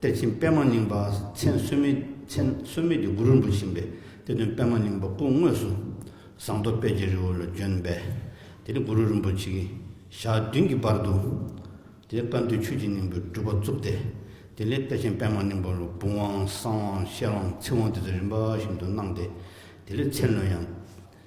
དཔལ་ཆེན་པདྨ་སྙིང་པ་མཚན་གསོལ་མེད་མཚན་གསོལ་མེད་ཀྱི་གུ་རུར་འབུལ་བཞིན་པས་དེ་དོན་པདྨ་སྙིང་པོ་སྐུ་དངོས་སུ་ཟངས་མདོག་དཔལ་གྱི་རི་བོ་ལ་བྱོན་པས་དེ་ནས་གུ་རུ་རིན་པོ་ཆེ་གི་ཞག་བདུན་གྱི་བར་དུ་དེའི་བཀའ་འདུས་ཆོས་ཀྱི་སྙིང་པོའི་སྒྲུབ་པ་བཙུགས་ཏེ་དེ་ལས་དཔལ་ཆེན་པདྨ་སྙིང་པོ་ལ་བུམ་དབང་གསང་དབང་ཤེར་དབང་ཚིག་དབང་དེ་ཚོ་རིམ་པ་བཞིན་དུ་གནང་སྟེ་དེ་ལས་ཚེ་ལོས་ཡང་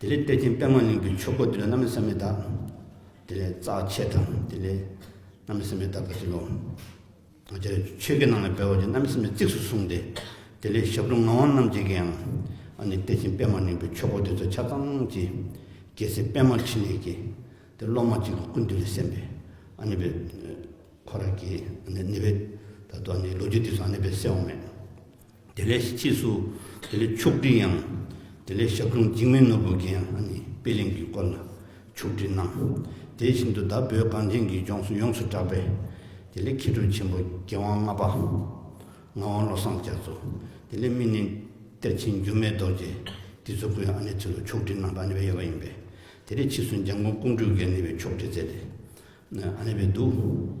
དེ་ལས་གཏེར་ཆེན་པདྨ་གླིང་གི་ཆོས་སྐོར་དེ་ལས་རྣམ་སྨིན་སམ་མི་དག། དེ་ལས་རྩ་ཆེ་དང་དེ་ལས་རྣམ་སྨིན་སམ་མི་དག་གི་ཚུལ་ལོ། དེ་ལས་ཆོས་སྐད་ནང་ལ་སྦས་བ་ཅན་རྣམ་སྨིན་གཙིགས་སུ་གསུངས་ཏེ། དེ་ལས་ཞབས་དྲུང་ངག་དབང་རྣམ་འབྱེད་ཀྱིའང་ཨ་ནི་གཏེར་ཆེན་པདྨ་གླིང་གི་ཆོས་སྐོར་དེ་ཚོ་ཆ་ཚང་གི་རྒྱལ་སྲས་པདྨ་ཕྲིན་ལས་ཀྱི་དེ་སློབ་མ་གཅིག་གི་ཀུན་བཏུས་ལས་གསན་པའི་ཨ་ནི་པའི་ཁོ་ར་གིས་ཨ་ནི་ནི་པའི་ད་དུ་ཨ་ནི་ལོ་རྒྱུས་དེ་ཚོ་ཨ་ནི་པའི་གསལ་བོ་མེད། དེ་ལས་ཕྱིས་སུ་དེ་ལས་ཕྱོགས་བསྒྲིགས་ཡང་དེ་ལས་ཞབས་དྲུང་འཇིགས་མེད་ནོར་བུ་རྒན་ལྷ་ནི་དཔེ་གླིང་གི་སྐོར་ལ་ཕྱོགས་བསྒྲིགས་གནང། དེ་བཞིན་དུ་བདག་བོད་གངས་ཅན་གྱི་ལྗོངས་སུ་ཡོངས་སུ་གྲགས་པའི་དེ་ལས་མཁས་གྲུབ་ཆེན་པོ་རྒྱལ་དབང་ལྔ་པ་ངག་དབང་བློ་བཟང་རྒྱ་མཚོ། དེ་ལས་སྨིན་གླིང་གཏེར་ཆེན་འགྱུར་མེད་རྡོ་རྗེ་འདི་ཚོ་སྐུའི་ཨ་ནེ་ཚུལ་ལོ་ཕྱོགས་བསྒྲིགས་གནང་སྟངས་གཉིས་པ་ཡོད་པ་ཡིན་པས་དེ་ལས་ཕྱིས་སུ་འཇམ་མགོན་ཀོང་སྤྲུལ་རྒན་ནི་བའི་ཕྱོགས་བསྒྲིགས་མཛད་དེ་ཨ་ནེ་བས་བསྡུས།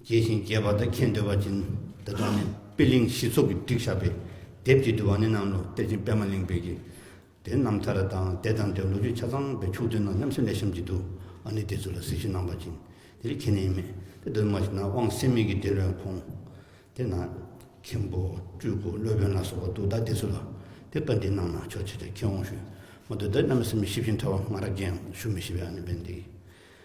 རྒྱས་ཤིང་རྒྱས་པར་དུ་མཁྱེན་འདོད་པ་ཅན་དེ་དག་ནི་དཔེ་གླིང་བཞི་ཚོགས་ཀྱི་བསྒྲིགས་ཞགས་པའི་དེབ་ཀྱིས་བསྡུས་པ་ནི་གནམ་ལོ་གཏེར་ཆེན་པད་མ་གླིང་པས་ཀྱི་དེ་རྣམ་ཐར་དང་དད་དང་དེ་ལོ་རྒྱུས་ཆ་ཚང་པའི་ཕྱོགས་བསྡུས་ནང་མཉམ་སེམས་ལས་བྱམས་ཀྱི་དུ་བ་ནི་དེ་ཚོ་ལ་གཟིགས་ཞུ་གནང་པ་ཅན་དེ་ལས་ཁྱད་ནི་མེད་དེ་གདོད་མ་ཞིག་ན་དབང་སེམས་མིག་གི་དེ་ལོའི་ཁོང་དེ་ན་མཁན་པོ་སྤྲུལ་སྐུ་སློབ་དཔོན་ལ་སོགས་པ་འདུག་ད་དེ་ཚོ་ལ་དེ་བཀའ་འདྲི་གནང་ན་ཆོག་ཆེ་ཆེ་མཁས་དབང་ཞུས་མ་འདུག་དེ་རྣམས་སེམས་ཞིབ་ཅིང་ཕྲ་བ་ང་རང་རྒན་ཞུ་མི་ཤེས་པས་ཨ་ནི་བན་དེའི